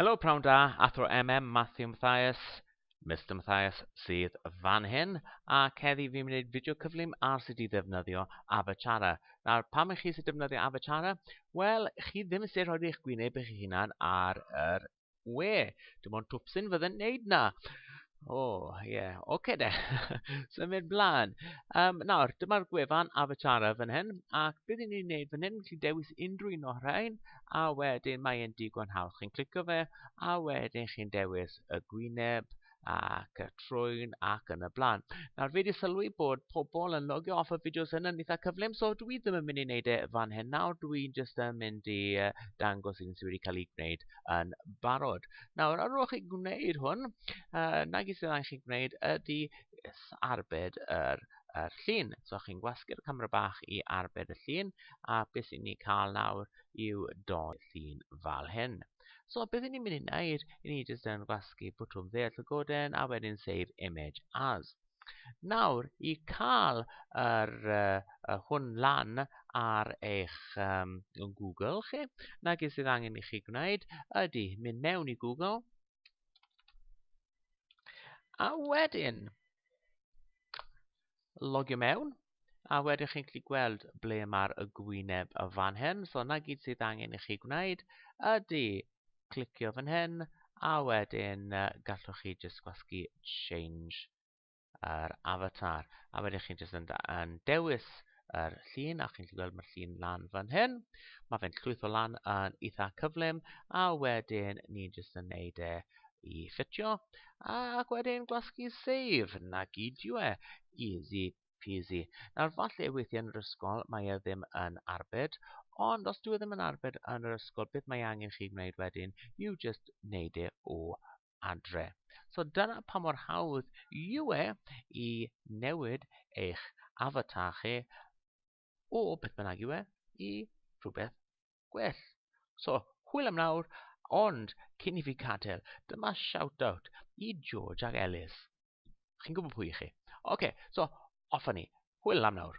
Helo, prawn da, athro MM Matthew Mathias, Mr Mathias sydd fan hyn, a ceddi fi'n mynd i wneud fideo cyflym ar sut i ddefnyddio Avachara. Nawr, pam i chi sy'n defnyddio Avachara? Wel, chi ddim yn sut rhoi eich gwyneb eich hunan ar yr We, dim ond twpsyn fydde'n neud na. O, oh, ie, yeah. oce okay, de. Symud blaen. Um, nawr, dyma'r gwefan Avatara fan hyn, ac beth ni'n ni'n neud fan hyn, chi dewis unrhyw un o'r rhain, a wedyn mae e'n digon hawdd. Chi'n clicio fe, a wedyn chi'n dewis y gwyneb, ac y trwyn ac yn y blaen. Nawr fi wedi sylwi bod pobl yn logio off y fideos yn yn eitha cyflym, so dwi ddim yn mynd i wneud e fan hyn nawr, dwi'n just yn mynd i dangos un sydd wedi cael ei gwneud yn barod. Nawr, ar ôl chi gwneud hwn, uh, nag i sydd angen chi gwneud ydy arbed yr yr llun. So chi'n gwasgu'r camera bach i arbed y llun a beth sy'n ni cael nawr yw doi llun fel hyn. So beth ni'n mynd i wneud, i ni jyst yn gwasgu bwtwm ddeall y goden a wedyn save image as. Nawr, i cael yr, uh, hwn lan ar eich um, Google chi, na gyd sydd angen i chi gwneud ydy mynd mewn i Google a wedyn logio mewn a wedyn chi'n gallu gweld ble mae'r y gwyneb y fan hyn. So na gyd sydd angen i chi gwneud ydy clicio fan hyn a wedyn uh, gallwch chi just gwasgu change yr avatar. A wedyn chi'n just yn, yn dewis yr llun a chi'n gallu gweld mae'r llun lan fan hyn. Mae fe'n llwytho lan yn eitha cyflym a wedyn ni'n just yn neud e i ffitio ac wedyn gwasgu save na gyd yw e. Easy peasy. Nawr, falle weithiau yn yr ysgol mae e ddim yn arbed, ond os dwi e ddim yn arbed yn yr ysgol, beth mae angen chi gwneud wedyn? You just wneud e o adre. So dyna pa mor hawdd yw e i newid eich avatar chi o beth bynnag yw e i rhywbeth gwell. So, hwyl am nawr, ond cyn i fi cadael, dyma shout-out i George ac Ellis. Chi'n gwybod pwy i chi? Oce, okay, so, off ni. Hwyl am nawr.